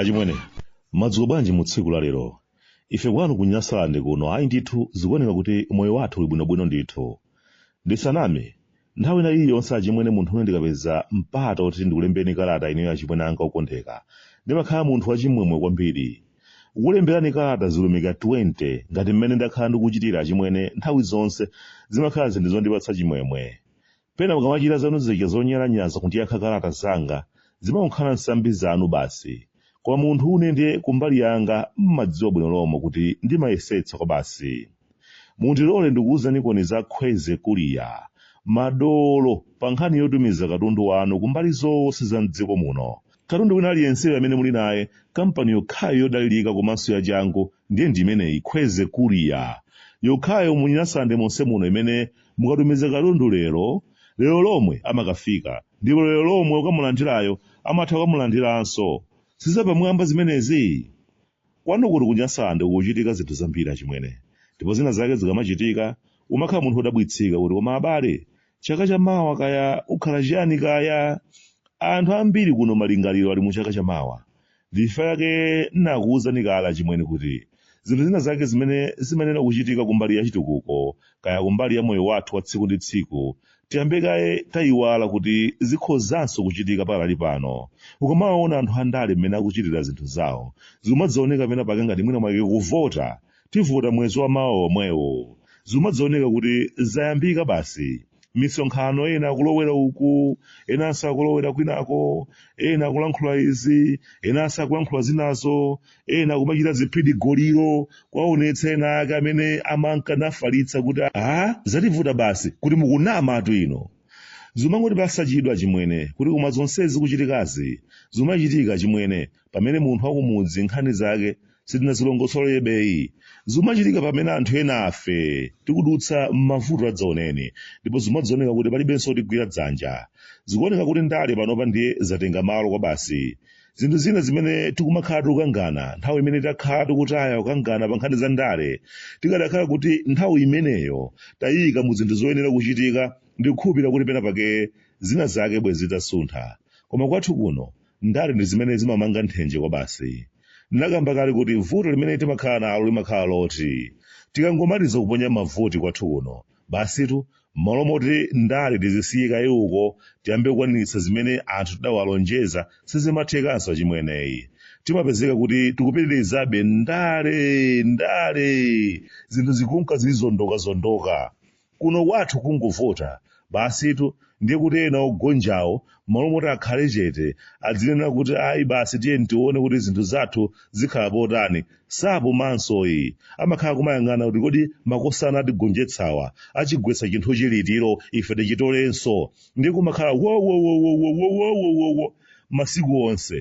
achimwene madzulo bwanji mu tsiku la lero ife kwanu ku nyasalande kuno ayi ndithu zikuoneka kuti moyo wathu uli bwinobwino ndithu ndisaname nthawi ina iliyonse achimwene munthu une ndikapeza mpata woti ndikulembeni kalata ineyo achimwene anga okondeka ndimakhala munthu wachimwemwe kwambiri kukulemberani kalata zilumika 20 ngati mmene ndakhala ndikuchitira achimwene nthawi zonse zimakhala zinthu zondipatsa chimwemwe pena mukamachita zanu zija zonyalanyaza kundiyankha kalata zanga zimakhala nsambi zanu basi Koma munthu une ndiye kumbali yanga mmadziwa bwino lomwe kuti ndimayesetsa kwabasi. Mundilole ndikuuzenikoni za Khweze Kuliya, madolo pa nkhani yotumiza katundu wanu kumbali zonse za m'dziko muno. Katundu wina aliyenseyo amene muli naye, kampani yokhayo yodalirika komanso yachangu ndiye ndi imeneyi, Khweze Kuliya. Yokhayo mu Nyasalande monse muno imene mukatumiza katundu lero, lero lomwe amakafika. ndipo lero lomwe ukamulandirayo amatha kukamulandiranso sizapamwamba zimenezi kwanu kuno ku nyasalande kukuchitika zinthu zambiri achimwene ndipo zina zake zikamachitika umakhala munthu wodabwitsika kuti koma abale chaka cha mawa kaya kukhala chiyani kaya anthu ambiri kuno malingaliro ali mu chaka cha mawa Ndi chifukwa chake n'nakuuzani kale achimwene kuti zinthu zina zake zimene zimayenera kuchitika kumbali ya chitukuko kaya kumbali ya moyo wathu wa tsiku ndi tsiku tiyambe kaye taiwala kuti zikhozanso kuchitika pakali pano. Ukamawaona anthu andale mmene akuchitira zinthu zawo, zikumadzaoneka pena pake ngati mwina mwake kuvota tivota mwezi wa mawa womwewo. Zikumadzaoneka kuti zayambika basi. misonkhano ena akulowera uku enanso akulowera kwinako ena akulankhula izi enanso akulankhula zinazo ena kumachita ziphidigoliro kuwaonetsa ena ake amene amanka nafalitsa kuti a zativuta basi kuti mukunama atu ino zimangotipatsa chidwi achimwene kuti koma zonsezi zikuchitikazi zimachitika achimwene pamene munthu wakumudzi nkhani zake sitinazilongosolebeyi zimachitika pamene anthu enafe tikudutsa m'mavuto adzaoneni ndipo zimadzaoneka kuti palibenso otigwira dzanja zikuoneka kuti ndale panopa ndiye zatenga malo kwa basi zinthu zina zimene tikumakhala tikukangana nthawi imene takhala tikutaya kukangana pa nkhani za ndale tikadakhala kuti nthawi imeneyo tayika mu zinthu zoyenera kuchitika ndikukhulupirira kuti pena pake zina zake bwezi zitasuntha koma kwathu kuno ndale ndi zimene zimamanga nthenje kwabasi ndinakamba kale kuti vuto limene timakhala nalo limakhala loti tikangomaliza kuponya mavoti kwathu kuno basitu mmalo moti ndale tizisiye kaye uko tiyambe kukwaniritsa zimene anthu tidawalonjeza sizimathekanso achimweneyi timapezeka kuti tikupitirizabe ndale ndale zinthu zikunka zili zondokazondoka Kuno kwathu kungovota basitu ndiye kuti ena ogonjawo m'malo moti akhale chete adzinena kuti ayi basi tiyeni tione kuti zinthu zathu zikhala potani sapumansoyi amakhala kumayang'ana kuti kodi makosana atigonjetsawa achigwetsa chinthuchi litiro ife tichitolenso ndiye kumakhala wowowowowowowowowo masiku onse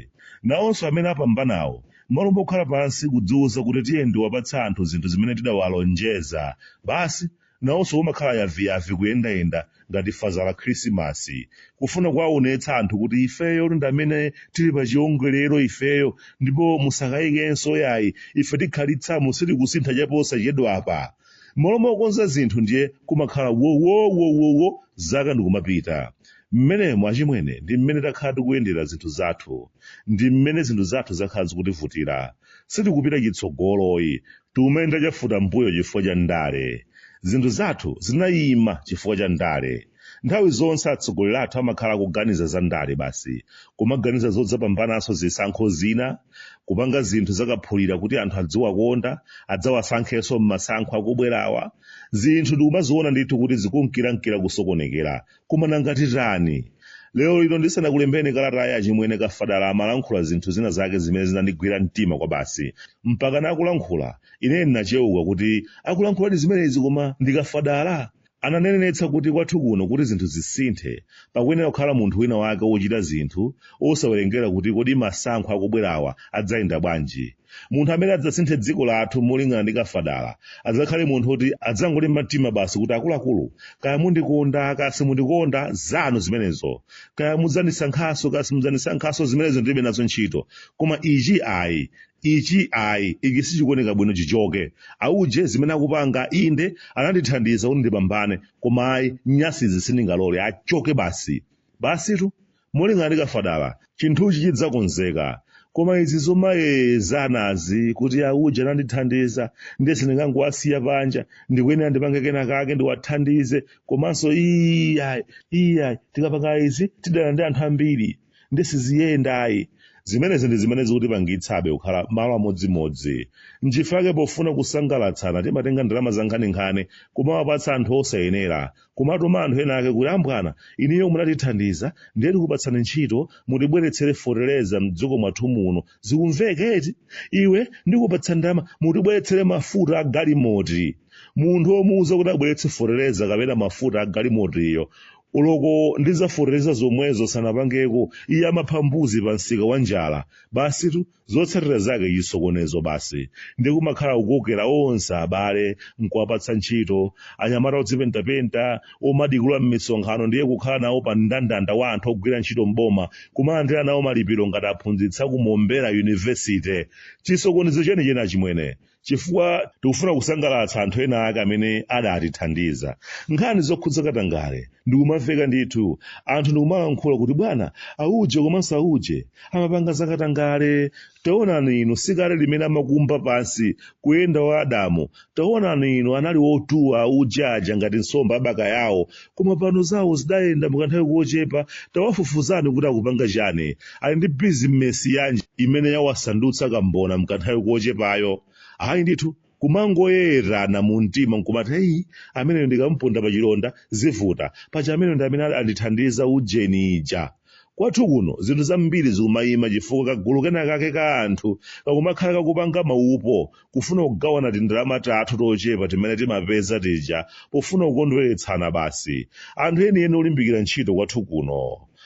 nawonso amene apambanawo M'malo mokhala pansi kudziuza kuti tiyeni tiwapatse anthu zinthu zimene tidawalonjeza basi nawonso kumakhala yaviyavi kuyendayenda ngati fazala khrisimasi kufuna kuwaonetsa anthu kuti ifeyo ndi amene tili pa chiongolero ifeyo ndipo musakayikenso yayi ife tikhalitsamo sitikusintha chaposachedwapa mmalo mokonza zinthu ndiye kumakhala wowowowowo zaka ndikumapita mmenemo achimwene ndi mmene takhala tikuyendera zinthu zathu ndi mmene zinthu zathu zakhala zikutivutira sitikupita chitsogoloyi tikumayenda chafutambuyo chifukwa cha ndale zinthu zathu zinayima chifukwa cha ndale nthawi zonse atsogoleri athu amakhala akuganiza za ndale basi kumaganiza zodzapambananso zisankho zina kupanga zinthu zakaphulira kuti anthu adziwakonda adzawasankhenso m'masankho akubwerawa zinthu ndikumaziona ndithu kuti zikunkirankira kusokonekera koma nanga titani lero lino ndisanakulembeni kalatayi achimwene kafadala amalankhula zinthu zina zake zimene zinandigwira mtima kwabasi mpakana akulankhula ine ndinacheuka kuti akulankhuladi zimenezi koma ndi kafadala Ananenetsa kuti kwathu kuno kuti zinthu zisinthe, pakuyenera kukhala munthu wina wake wochita zinthu osawerengera kuti kodi masankho akubwerawa adzayenda bwanji. Munthu amene adzasinthe dziko lathu molingana ndi Kafadala adzakhale munthu woti adzangolimba mtima basi kuti akuluakulu kaya mundikonda kaya simundikonda zanu zimenezo, kaya mudzandisankhanso kaya simudzandisankhanso zimenezo ndilibe nazo ntchito koma ichi ayi. ichi ayi ichi sichikuoneka bwino chichoke auje zimene akupanga inde anandithandiza kuti ndipambane koma ayi nyasizi sindingalole achoke basi basitu molingana ndi kafadala chinthuchi chidzakonzeka koma izi zomayezanazi kuti auje anandithandiza ndiye sindingangowasiya panja ndikuyenera ndipange kena kake ndiwathandize komanso iyayi iyayi tikapanga izi tidana ndi anthu ambiri ndi siziyenda ayi zimenezi ndi zimene zikutipangitsabe kukhala malo amodzimodzi nchifukwa chake pofuna kusangalatsana timatenga ndalama zankhaninkhani kumawapatsa anthu osayenera kumatuma anthu ena ake kuti ambwana inuyo munatithandiza ndiye tikupatsani ntchito mutibweretsere fotereza mdziko mwathu muno zikumveka eti iwe ndikupatsa ndalama mutibweretsere mafuta a galimoti munthu omuuza kuti abweretse fotereza kapena mafuta a galimotiyo uloko ndi zafotereza zomwezo sanapangeko iye amapha mbuzi pa msika wa njala basi zotsatira zake chisokonezo basi ndi kumakhala kukokera onse abale nkuwapatsa ntchito anyamata odzipentapenta omadikula m'misonkhano ndiye kukhala nawo pa mndandanda wa anthu ogwira ntchito mboma kumalandira nawo malipiro ngati aphunzitsa kumombera yunivesite chisokonezo chenicheni achimwene chifukwa tikufuna kusangalatsa anthu ena ake amene adatithandiza nkhani zokhudza katangale ndikumamveka ndithu anthu ndikumalankhula kuti bwana auje komanso auje amapanga za katangale taonani inu sikale limene amakumba pansi kuyenda wa adamu taonani inu anali otuwa auje aja ngati nsomba a bakayawo koma pano zawo zidayenda mukanthawi kochepa tawafufuzani kuti akupanga chani ali ndi bizinesi yanji imene yawasandutsa kambona mkanthawi kochepayo ayi ndithu kumangoyerana mu mtima nkumati heyi ameneyo ndikamponda pa chilonda zivuta paja ameneyo ndi amene andithandiza ujeni uja Kwathu kuno zinthu zambiri zikumayima chifukwa kagulu kenakake ka anthu kakumakhala kakupanga maupo kufuna kugawana tindalama tathu tochepa timene timapeza tija pofuna kukondweretsana basi. Anthu enieni olimbikira ntchito kwathu kuno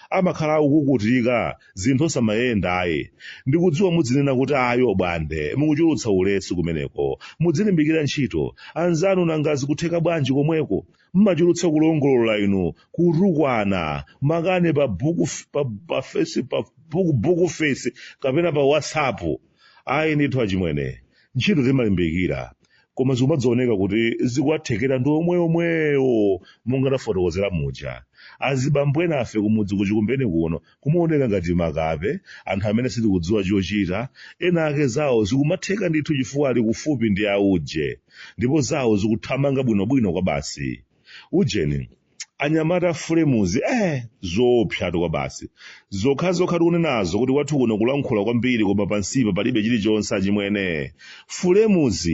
amakhala akukukutika zinthu osamayenda ayi. Ndikudziwa mudzinena kuti ayi Obwande mukuchulutsa ulesi kumeneko. Mudzilimbikira ntchito anzanu nanga zikutheka bwanji komweko? mmachulutsa kulongolola inu kutukwana makamaka pa book pa, pa face pa book, book face kapena pa whatsapp ayi ndithu achimwene ntchito timalimbikira koma zikumadzaoneka kuti zikuwathekera ndi omwe omwewo monga tafotokozera muja azibambo enafe kumudzi kuchikumbeni kuno kumaoneka ngati makape anthu amene sitikudziwa chochita ena ake zawo zikumatheka ndithu chifukwa ali kufupi ndi auje ndipo zawo zikuthamanga bwinobwino kwa basi ujeni anyamata a flames eh zoopsatu kwa basi zokhazokha tikunenazo kuti kwathu kuno kulankhula kwambiri koma pansipa palibe chilichonse achimwene flames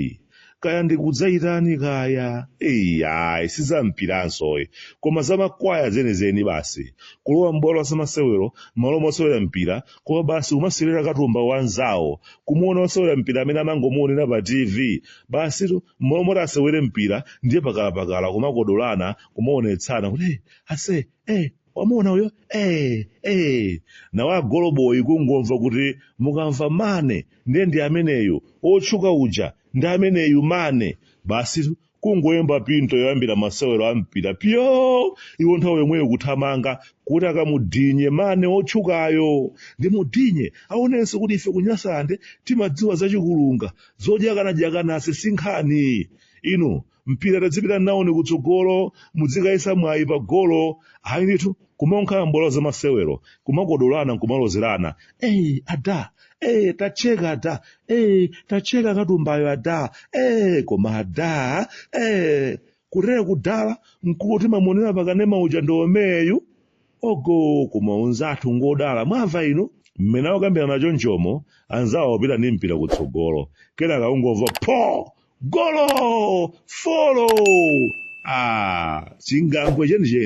kaya ndikudzayitani kaya eyi ayi sizampiranso ayi koma zamakwaya zenizeni basi kulowa m'bwalo la zamasewero mmalo mosewera mpira koma basi kumasewera katumba wanzawo kumuona osewera mpira amene amangomuonera pa tv basitu mmalo moti asewere mpira ndiye pakalapakala kumakodolana kumaonetsana kuti "Hey, ase eh wamuona uyo eh, eh. nawo agoloboyi kungomva kuti mukamva mane ndiye ndi ameneyu otchuka uja ndi ameneyu mane basi kungoyimba pinto yoyambira masewero a mpira pyo iwo nthawi yomweyo kuthamanga kuti akamudinye mane otchukayo ndi mudinye aonenso kuti ife ku Nyasalande timadziwa zachikulunga zodyakanadyakanase sinkhani inu mpira tadzipita nawoni kutsogolo mudzikayesa mwayi pa golo ayi ndithu kumangokhala m'bwalo la zamasewero kumakodolana nkumalozerana eyi ada ee tachekani ada ee tacheka katumbayo ada ee koma ada ee kutera kudala nkuti mamonera pakanema uja ndi yemweyu ogo kumauza anthu ngodala mwamva inu mmene akukambirana chonchomo anzawo opita ndi mpira kutsogolo kenaka ungomva pho golo folo ah chingambwe chenicheni